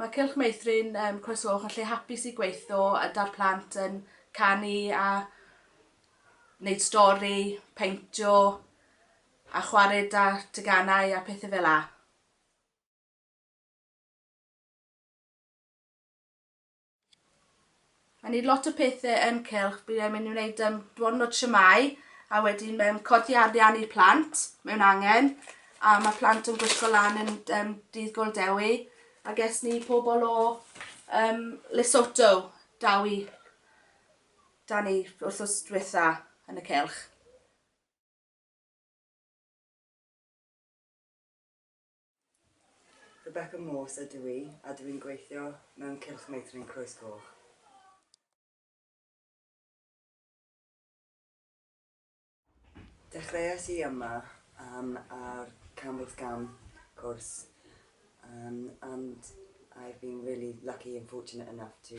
Mae Cylch Meithrin yn croesawch a lle hapus i gweitho a 'da'r plant yn canu a wneud stori, peintio a chwarae 'da teganau a pethau fel â. I need lot o pethe yn cylch, bydd e'n mynd i wneud um, dwrnod siamau, a wedyn um, codi arian i plant mewn angen, a mae plant yn gwisgo lan yn um, dydd gol dewi, a ges ni pobl o um, Lesotho daw i da ni wrth os diwetha yn y cylch. Rebecca Morse ydw i a dw i'n gweithio mewn Cylch Meithrin Croes Goch. Dechreuais i yma um, ar Campbell's Gam course um, and I've been really lucky and fortunate enough to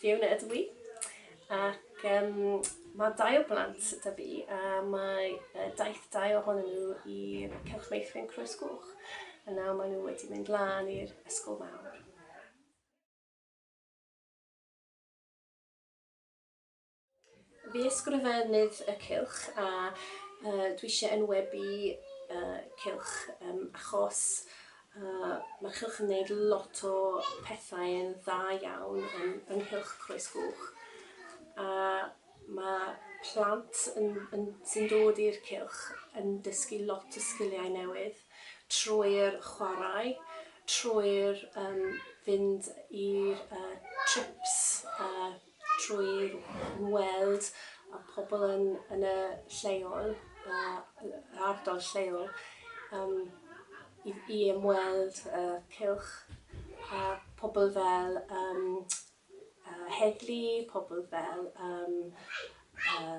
Fiona ydw i ac um, mae dau o blant da fi a mae uh, daith dau ohonyn nhw i'r Cylch Meithrin Croes Gwch a nawr maen nhw wedi mynd lan i'r ysgol mawr. Fi ysgrifennydd y cylch a uh, dwi eisiau enwebu uh, cylch um, achos uh, mae'r cylch yn gwneud lot o pethau yn dda iawn yn, yng nghylch Croes Gwch. A mae plant yn, yn, sy'n dod i'r cylch yn dysgu lot o sgiliau newydd trwy'r chwarae, trwy'r um, fynd i'r uh, trips uh, trwy weld y pobl yn yn y lleol yy yr ardal lleol yym i i ymweld y cylch a pobl fel yym yy heddlu, pobl fel yym yy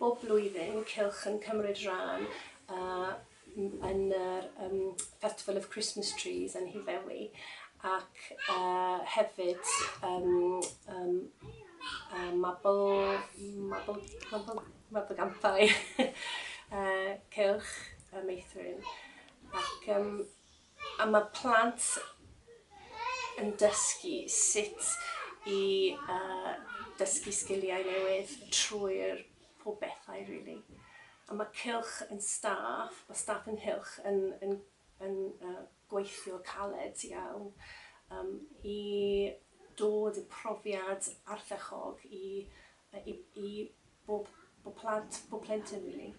Bob blwyddyn mae Cylch yn cymryd rhan yn yr Festival of Christmas Trees yn Nhŷ Ddewi ac hefyd Mabolgampau Cylch Meithrin ac yym a ma' plant yn dysgu sut i yy dysgu sgiliau newydd trwy'r pob bethau rili. A ma' cylch yn staff, ma' staff ynghylch yn yn yn yy gweithio caled iawn yym i dod y profiad ardderchog i yy i i bob bob plant, bob plentyn rili.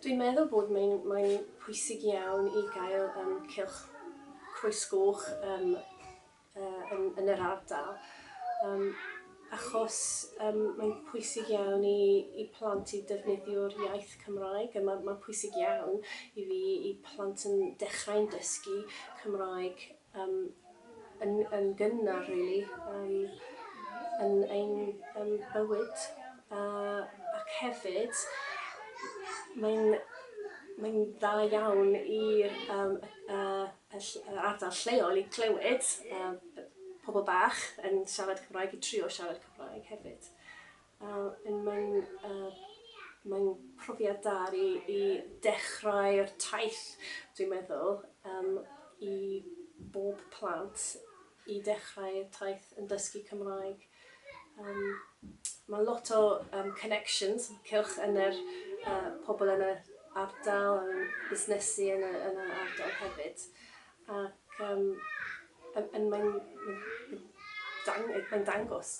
Dwi'n meddwl bod mae'n mae'n pwysig iawn i gael um, cylch croes goch um, uh, yn, yn yr ardal. Um, achos um, mae'n pwysig iawn i, i plant i defnyddio'r iaith Cymraeg. Mae'n ma pwysig iawn i fi i plant yn dechrau'n dysgu Cymraeg Yym yn yn gynnar rili yym yn ein yym bywyd a ac hefyd mae'n mae'n dda iawn i'r yym y y ll- yr ardal lleol i clywed yym y pobol bach yn siarad Cymraeg i trio siarad Cymraeg hefyd. Yym mae'n yy mae'n profiad da i i dechrau'r taith dwi'n meddwl yym i bob plant i dechrau y taith yn dysgu Cymraeg yym ma' lot o yym connections cylch yn yr yy pobl yn yr ardal a ryw busnesu yn y yn yr ardal hefyd ac yym yn yn mae'n mae'n dang- mae'n dangos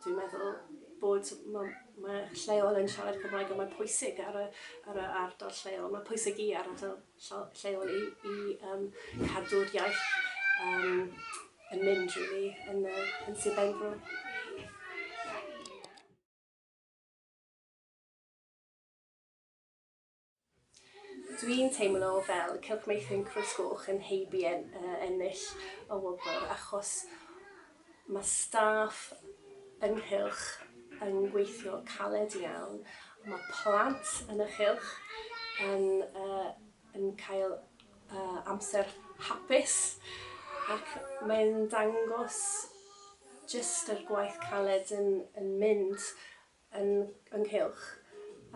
Dwi'n meddwl bod ma' ma' lleol yn siarad Cymraeg a mae'n pwysig ar y ar y ardal lleol. Mae'n pwysig i ardal lleo- lleol i i yym cadw'r iaith yym yn mynd rili yn yy yn Sir Benfro. Dwi'n teimlo fel Cylch Meithrin Crwys Goch yn heibio ennill y wobr achos mae staff yng nghylch yn gweithio caled iawn, mae plant yn y cylch yn yy yn cael yy amser hapus ac mae'n dangos jyst yr gwaith caled yn yn mynd yn ynghylch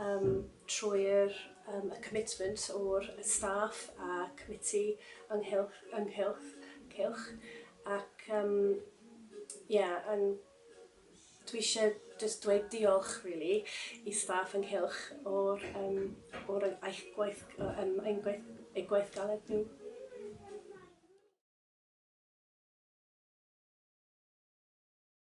yym trwy'r yym y commitment o'r y staff a committee ynghylch ynghylch cylch ac yym ie yn dwi isie jyst dweud diolch rili i staff ynghylch o'r yym o'r yy eich gwaith yy yym ein gwaith eu gwaith galed nhw.